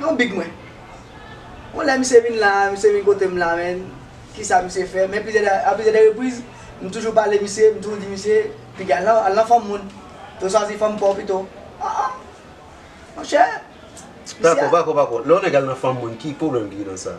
Yon big mwen. Yon lè misye vin la, misye vin kote m la men, kisa misye fè? Men plizyè dè, a plizyè dè repriz, m toujou pale misye, m toujou di misye, piga al nan, al nan fanm moun. Te chwazi fanm pa w pito. A a! Monchè! Misye a. Pako, pako, pako. Lè yon nèg al nan fanm moun, ki pwoblèm ki gen nan sa?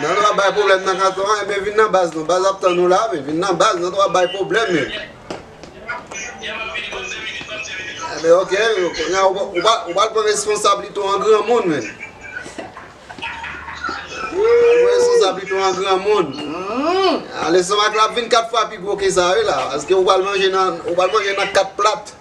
Nan dwa bay problem nan katon an, enben vin nan baz nou. Baz ap tann nou la, vin nan baz, nan dwa bay problem yo. Enben ok, ou pal pran responsabilite ou an gran moun men. Ou responsabilite ou an gran moun. Alesoma klap vin 4 fwa pi gwo ke sa wi la. Aske ou pal manje nan 4 plat.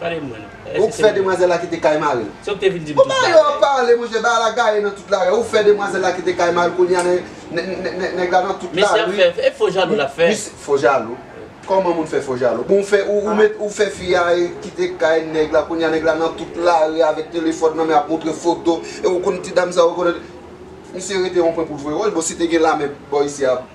Pale mwen non. Eske se Ou k fè demwazèl la kite kay mari l. Se ou k te vin di m tout bagay. Bon ba yo pale monchè bagay la gaye nan tout lari ou fè demwazèl la kite kay mari l kounya nèg la nan tout lari. Mesye ap fè e fo jalou lap fè. Fo jalou? Kòman moun fè fo jalou? Bon ou fè ou met ou fè fi a kite kay nèg la kounya nèg la nan tout lari avèk telefòn nan men ap montre foto e ou konn ti dam sa ou konn Misye rete yon pwen pou l voye wòch bon si te gen lame bò isi a.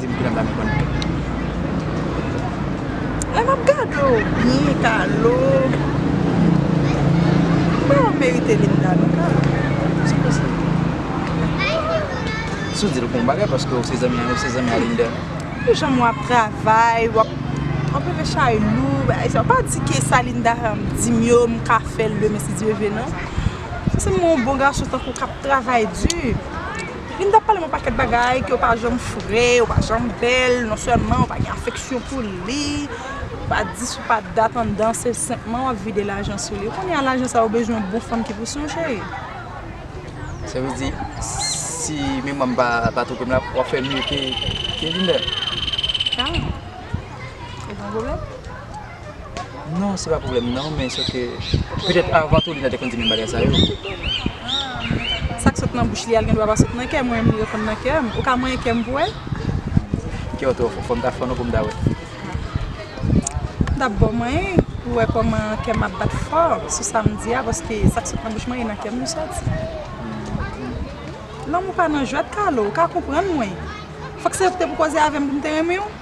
Dim kilè m pral konn pèp la. Lè map gade w byen Carlo. M kwè w merite vin la non Carlo. Se pou sa. Si w di l bon bagay paske w se zanmi a ou se zanmi a Linda. Pou jan wap travay wap wap leve chay lou bagay sa. W pa di ke sa Linda dim yo m ka fè l demen si Dye ve non. Ou se yon bon gason tankou w kap travay di. Vin tap pale m yon pakèt bagay ke yo pa janm fre, yo pa janm bèl, non sèlman ou pa gen afeksyon pou li, ou pa di sou pa dat anndan se senpman wap vide lajan sou li. Ou konnen a lajan sa ou bezwen yon bon fanm ki pou sonje li. Sa vle di si memwa m pa twonpe m la wap fè mye ke Vin bèl? Kaman? Ou gen yon pwoblèm? Non se pa problèm nan men se ke petèt avan tou li ta dwe konn di menm bagay sa yo. Ah men sa k sot nan bouch li a l gen dwa pa sot nan kè mwen m reponn nan kè m. Ou ka manyen kè m pou wè? Kè w twò fò, fò m ta fò non pou m ta wè. M ta bon manyen pou wè kòman kè m ap bat fò sou sa m di a paske sa k sot nan bouch mwen e nan kè m li soti. Lanmou pa nan jwèt Carlo, ou ka konprann mwen. Fò k se te pou koze avè m pou m te renmen w?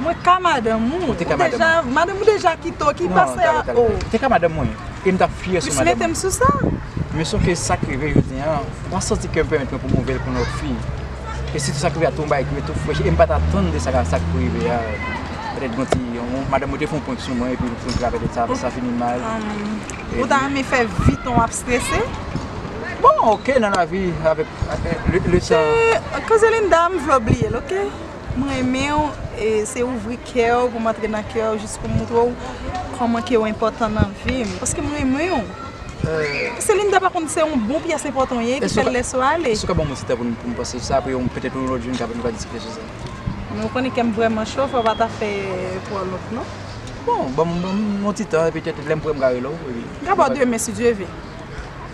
Mwen ka madanm ou. Ou te ka madanm mwen. Madanm ou deja kite w ki pase a ou. Non, ou te ka madanm mwen. E m t ap fyè sou madanm ou. Plis mete m sou sa. Men sof ke sa k rive jodi an, mwen santi kè m pèmèt mwen pou m ouvè l pou yon lòt fi. E sitou sa k rive a tou m bay kè m tou frèch e m pa t atann de sa k ap rive a. Petèt gen yon ti, madanm mwen te fè yon prank sou mwen epi m prank la petèt sa sa fini mal. Ou ta renmen fè Viton w ap strese? Bon ok nan lavi avèk le tan. Koze Linda m vle w bliye l ok. M renmen w e se ouvri kè w pou m antre nan kè w jis pou m montre w kòman ke w enpòtan nan vi m paske m renmen w Paske Linda pa konn se yon bon pyès enpòtan w ye ki fè l lèse w ale Èske w ka ban mwen yon ti tan pou m panse sou sa apre petèt yon lòt jou nou kapab diskite sou sa Men w konnen kè m vrèman cho fò w pa ta fè twò lont non Bon ban m yon ti tan e petèt lè m prè m ka rele w Gade bò demen si Dye ve.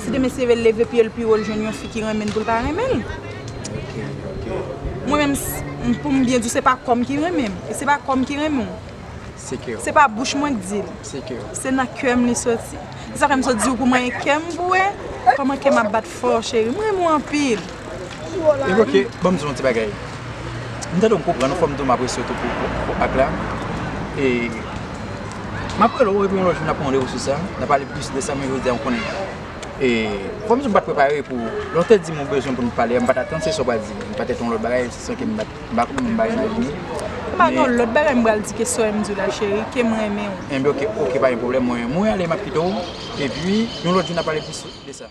Si demen se ve l leve pye l pi wo l jwenn yon fi ki renmen l pou l pa renmen l. Mwen menm pou m byen di w se pa kò m ki renmen m. E se pa kò m ki renmen w. Se pa bouch mwen k di l. Se nan kè m li soti. Se sa fè m sot di w pou manyen kè m pou w wè kòman kè m ap bat fò cheri. M renmen w anpil. Evo ke, banm di w yon ti bagay. M tande w m konprann w, fò m di w m apresye w tou pou ak la. E, m ap rele w epi yon lòt jou n ap pran randevou sou sa, n ap pale plis de sa men jodi a m konnen. E, fò m di w m pa t prepare pou, lè w te di m ou bezwen pou n pale a, m pa t atann se sa w pral di. M patèt yon lòt bagay, se sa ke m pa t, m pa konn, m pa imajine. M pa gen yon lòt bagay m pral di ke sa w m di w la cheri, ke m renmen w. Enben ok, ok pa gen pwoblèm mwen, mwen ale m ap kite w, epi yon lòt jou n ap pale plis de sa.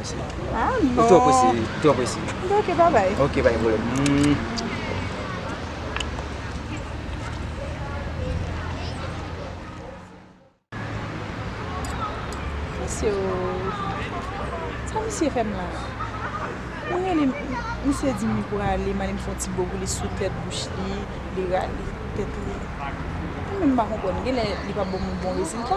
Ou twò prese, ou twò prese. Ok, ba bay. Ok, pa gen pwoblèm. Misye yo, sa misye fè m la? Mwen rele m, misye di m li prale, m ale m fè yon ti bo pou li sou tèt bouch li, li rale tèt li. Mwen menm m pa konprann, genlè li pa ban m yon bon rezilta.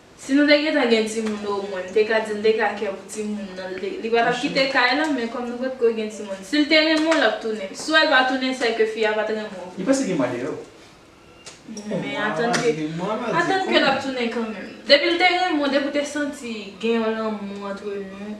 Si nou te gentan gen timoun omwen m te ka di l te ka kè pou timoun nan li pa t ap kite kay lan men kòm nou potko gen timoun si l te renmen w l ap tounen si w wè l pa tounen sè ke fi a pa t renmen w Li pase gen mwa dèyè w. Men atann ke atann ke l ap tounen kanmenm depi l te renmen w depi w te santi gen yon lanmou antre nou.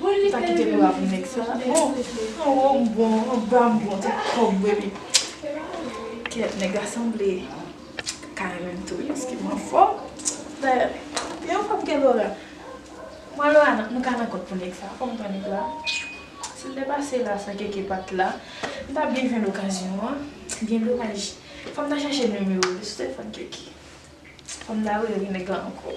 Ou ta kite m love nèg sa oh Anwo m bon anba m bon tout kob vre wi Kèt nèg la sanble ka renmen m tou wi paske m anfò Dayè m yon fwa m gen Laura mwen Laura nou ka nan kòd pou nèg sa fò m pran nèg la Si l te pase la san Keke pa t la m ta byen jwenn okazyon an Gen domaj fò m ta chèche nimewo l sou telefòn Keke. Fanm nan rele li nèg lan ankò.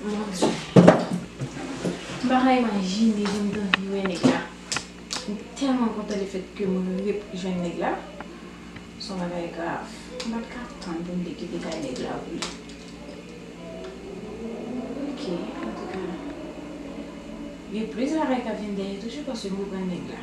Mon Dieu. M pa ka imajine jan m t anvi wè nèg la. M tèlman kontan le fèt ke m ret jwenn nèg la. S on bagay grav. M pa t ka tann pou m te kite kay nèg la pou li. Ok, antouka. Gen plis bagay k ap vin dèyè toujou paske m reprann nèg la.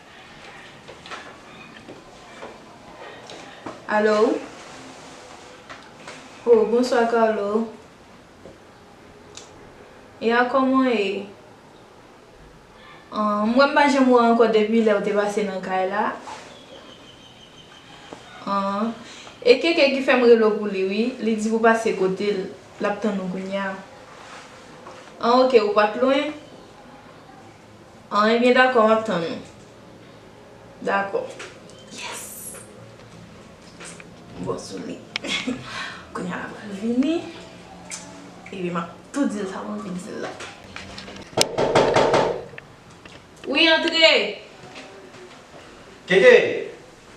Allo Oh bonswa Carlo Ya kòman w ye? An m wè m pa janm wè w ankò depi lè w te pase nan kay la An e Keke ki fè m rele w pou li wi Li di pou pase kote l l ap tann ou kounya An ok ou pa t lwen? An ebyen dakò map tann ou. Dakò yes m bon sou li kounya la pral vini epi map tou dil sa mwen anvi dil la. Wi antre. Keke!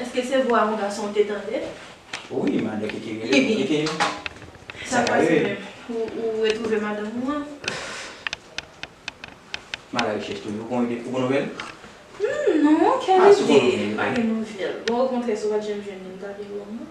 Eske se vwa yon gason ou te tande? Wi, madan Keke rele pou Keke. Sa ka rive menm. Ou retwouve madanm ou an? M a la rechèch toujou. Ou gen nouvèl? Non, kèlide, m pa gen nouvèl. Bon, okontrè, si w pa t janm jwenn li, m ta vin wè w non.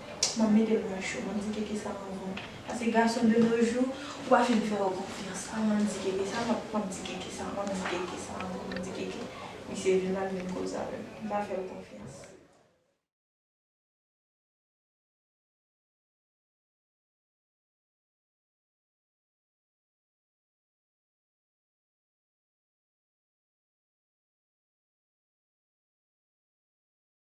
Map metel nan cho map di keke sa mwen bon pase gason de no jou ou pa fin fè yo konfyans a map di keke sa map map di keke sa map di keke sa ankò map di keke misye vin lap vin koze avèm mpa fèl konfyans.